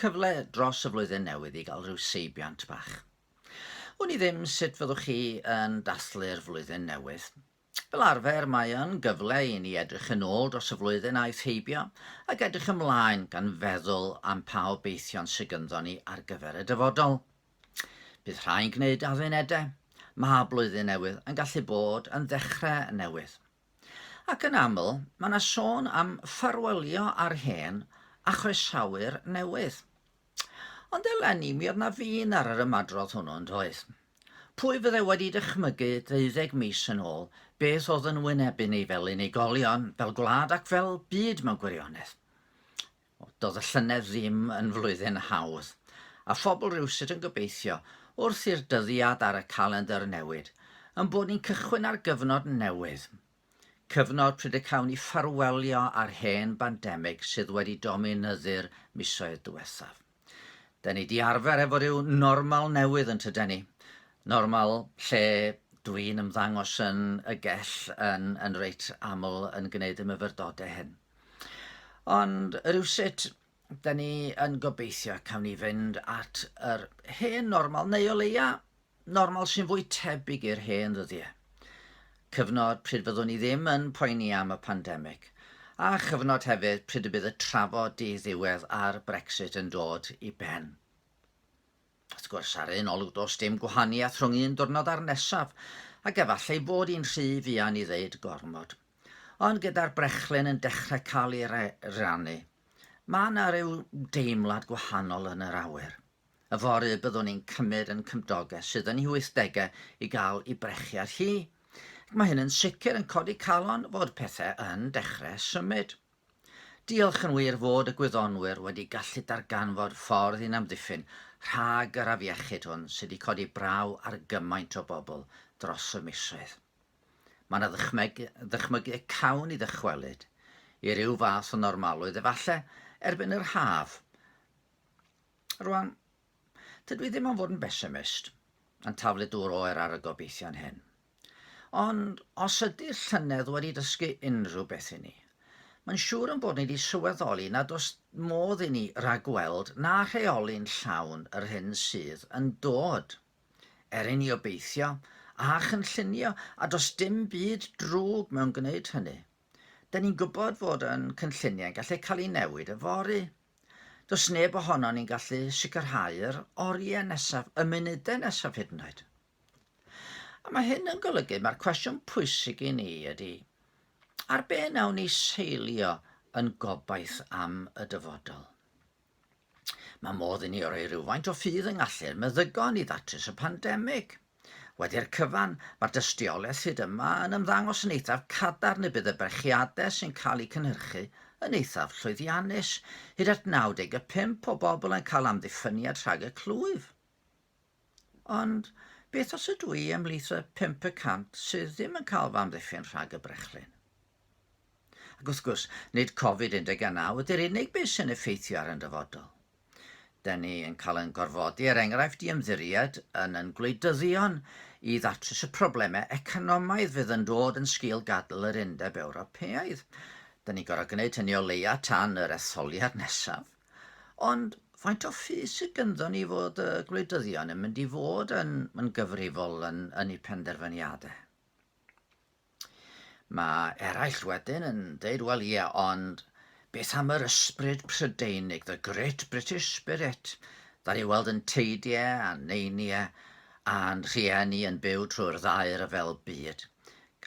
Cyfle dros y flwyddyn newydd i gael rhyw seibiant bach. Wn i ddim sut fyddwch chi yn dathlu'r flwyddyn newydd. Fel arfer mae yn gyfle i ni edrych yn ôl dros y flwyddyn aeth heibio ac edrych ymlaen gan feddwl am pa obeithion sydd gynddo ni ar gyfer y dyfodol. Bydd rhai'n gwneud addunedau. Mae Blwyddyn Newydd yn gallu bod yn ddechrau newydd. Ac yn aml, mae yna sôn am ffarwelio â'r hen a chroesawu'r newydd. Ond eleni, mi oedd yna fin ar yr ymadrodd hwnnw, yn doedd? Pwy fyddai wedi dychmygu deuddeg mis yn ôl beth oedd yn wynebu ni fel unigolion, fel gwlad ac fel byd mewn gwirionedd? O, doedd y llynedd ddim yn flwyddyn hawdd, a phobl rywsut yn gobeithio, wrth i'r dyddiad ar y calendr newid, yn bod ni'n cychwyn ar gyfnod newydd. Cyfnod pryd y cawn ni ffarwelio â'r hen bandemig sydd wedi dominyddu'r misoedd diwethaf. Da ni di arfer efo rhyw normal newydd yn tyden ni. Normal lle dwi'n ymddangos yn y gell yn, yn reit aml yn gwneud y myfyrdodau hyn. Ond rhywsut, da ni yn gobeithio cawn ni fynd at yr hen normal, neu o leia normal sy'n fwy tebyg i'r hen ddyddiau. Cyfnod pryd fyddwn ni ddim yn poeni am y pandemig, a chyfnod hefyd pryd y bydd y trafod di-ddiwedd ar Brexit yn dod i ben. Wrth gwrs, ar un olwg does dim gwahaniaeth rhwng un diwrnod a'r nesaf, ac efallai bod i'n rhy fuan i ddeud gormod. Ond gyda'r brechlyn yn dechrau cael ei rannu, mae yna ryw deimlad gwahanol yn yr awyr. Yfory byddwn i'n cymryd yn cymdoges sydd yn ei wythdegau i gael ei brechiad hi, ac mae hyn yn sicr yn codi calon fod pethau yn dechrau symud. Diolch yn wir fod y gwyddonwyr wedi gallu darganfod ffordd i'n amddiffyn rhag yr afiechyd hwn sydd wedi codi braw ar gymaint o bobl dros y misoedd. Mae yna ddychmyg, ddychmygu y cawn ni ddychwelyd i ryw fath o normalrwydd efallai erbyn yr haf. Rwan, Dydw i ddim am fod yn besimist, yn taflu dŵr oer ar y gobeithion hyn. Ond os ydy llynedd wedi dysgu unrhyw beth i ni, mae'n siŵr yn bod ni wedi sylweddoli nad oes modd i ni ragweld na rheoli'n llawn yr hyn sydd yn dod. Er i ni obeithio a chynllunio, a does dim byd drwg mewn gwneud hynny, 'dyn ni'n gwybod fod yn cynlluniau'n gallu cael eu newid yfory. Does neb ohonon ni'n gallu sicrhau'r oriau nesaf, y munudau nesaf hyd yn oed. A mae hyn yn golygu, mae'r cwestiwn pwysig i ni ydy, ar be nawn ni seilio yn gobaith am y dyfodol? Mae modd i ni roi rhywfaint o ffydd yng ngallu'r meddygon i ddatrys y pandemig – Wedi'r cyfan, mae'r dystiolaeth hyd yma yn ymddangos yn eithaf cadarn y bydd y brechiadau sy'n cael eu cynhyrchu yn eithaf llwyddiannus, hyd at 95 o bobl yn cael amddiffyniad rhag y clwyf. Ond beth os ydw i ymhlith y 5 y cant sydd ddim yn cael fy amddiffyn rhag y brechlyn? Ac wrth gwrs, nid Covid-19 ydy'r unig beth sy'n effeithio ar yn dyfodol. Da ni yn cael yn gorfodi, er enghraifft, i ymddiried yn yn gwleidyddion i ddatrys y problemau economaidd fydd yn dod yn sgil gadael yr Undeb Ewropeaidd. Da ni gorau gwneud hynny o leia tan yr etholiad nesaf. Ond faint o ffys sydd gynddo ni fod y gwleidyddion yn mynd i fod yn, yn gyfrifol yn, yn eu penderfyniadau? Mae eraill wedyn yn deud, wel ie, ond beth am yr ysbryd Prydeinig, the great British spirit, dan ni weld yn teidiau a neiniau a'n rhieni yn byw trwy'r ddaear y fel byd.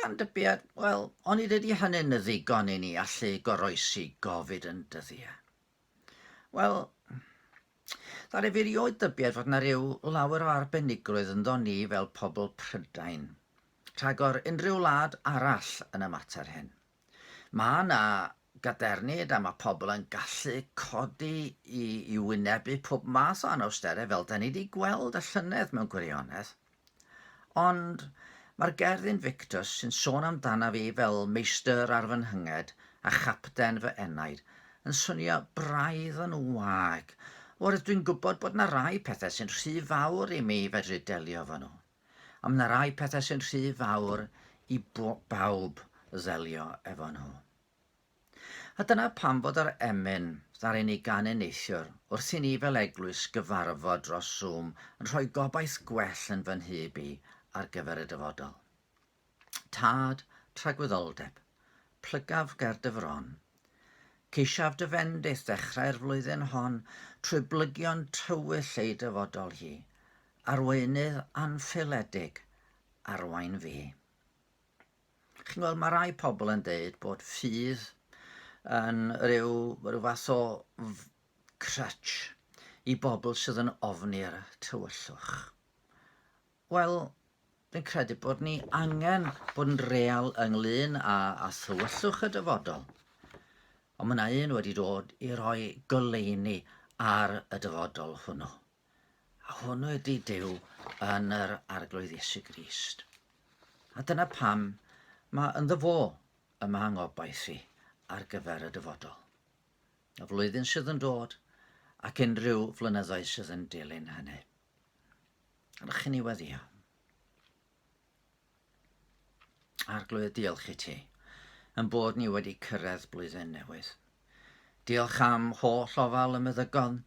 Gan dybiad, wel, onid ydy hynny'n ddigon i ni allu goroesi gofid yn dyddiau? Wel, ddaru fi rioed dybied fod na ryw lawer o arbenigrwydd ynddo ni fel pobl Prydain, rhagor unrhyw wlad arall yn y mater hyn. Ma' na gadernid a ma' pobl yn gallu codi i i wynebu pob math o anawstere fel da ni di gweld y llynedd mewn gwirionedd. Ond mae'r gerdd Invictus sy'n sôn amdanaf fi fel meistr ar fy nhynged a chapten fy enaid yn swnio braidd yn wag, oherwydd dwi'n gwybod bod 'na rai pethau sy'n rhy fawr i mi fedru delio efo nhw. A mae 'na rai pethau sy'n rhy fawr i bawb ddelio efo nhw. A dyna pam fod yr emyn, ddaru ni gan y neithiwr, wrth i ni fel eglwys gyfarfod dros Zoom yn rhoi gobaith gwell yn fy nhyb i ar gyfer y dyfodol. Tad, tragwyddoldeb. Plygaf ger dy fron. Ceisiaf dy fendith ddechrau'r flwyddyn hon trwy blygion tywyll ei dyfodol hi. Arweinydd anfeiledig, arwain fi. Chi'n gweld, mae rhai pobl yn dweud bod ffydd yn rhyw, rhyw fath o crutch i bobl sydd yn ofni'r tywyllwch. Wel, dwi'n credu bod ni angen bod yn real ynglyn â, â thywyllwch y dyfodol. Ond mae yna un wedi dod i roi goleini ar y dyfodol hwnnw. A hwn ydy Duw yn yr Arglwydd Iesu Grist. A dyna pam mae ynddo fo y mae ngobaith i ar gyfer y dyfodol. Y flwyddyn sydd yn dod ac unrhyw flynyddoedd sydd yn dilyn hynny. Rwy'ch chi'n ei weddio. Arglwydd, diolch i ti, yn bod ni wedi cyrraedd blwyddyn newydd. Diolch am holl ofal y meddygon,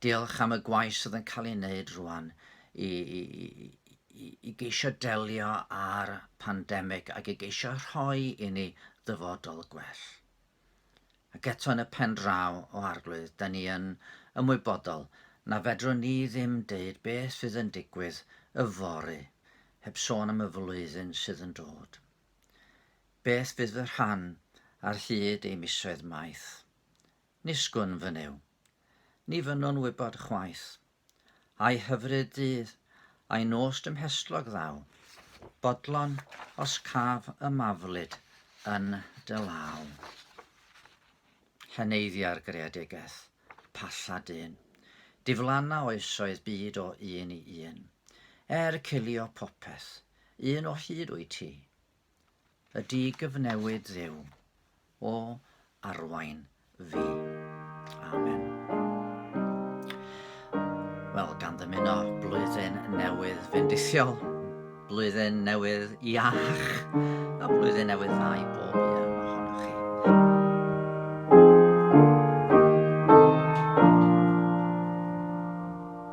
diolch am y gwaith sydd yn cael ei wneud rwan i, i, i, i geisio delio â'r pandemig ac i geisio rhoi i ni ddyfodol gwell. Ac eto yn y pen draw o Arglwydd, da ni yn ymwybodol na fedrwn ni ddim deud beth fydd yn digwydd y fory heb sôn am y flwyddyn sydd yn dod. Beth fydd fy rhan ar hyd ei misoedd maith? Nisgwn, fy Nuw. Ni fynnwn wybod chwaith. Ai hyfryd dydd, ai nos dymhestlog ddaw, bodlon os caf y maflyd yn dy law. Lleneiddia'r greadigeth, palla dyn, diflanna oesoedd byd o un i un. Er cilio popeth, un o hyd wyt ti, Y digyfnewid Dduw, o arwain fi. Amen. Wel, gan ddymuno blwyddyn newydd fendithiol, blwyddyn newydd iach, a blwyddyn newydd dda i bob un.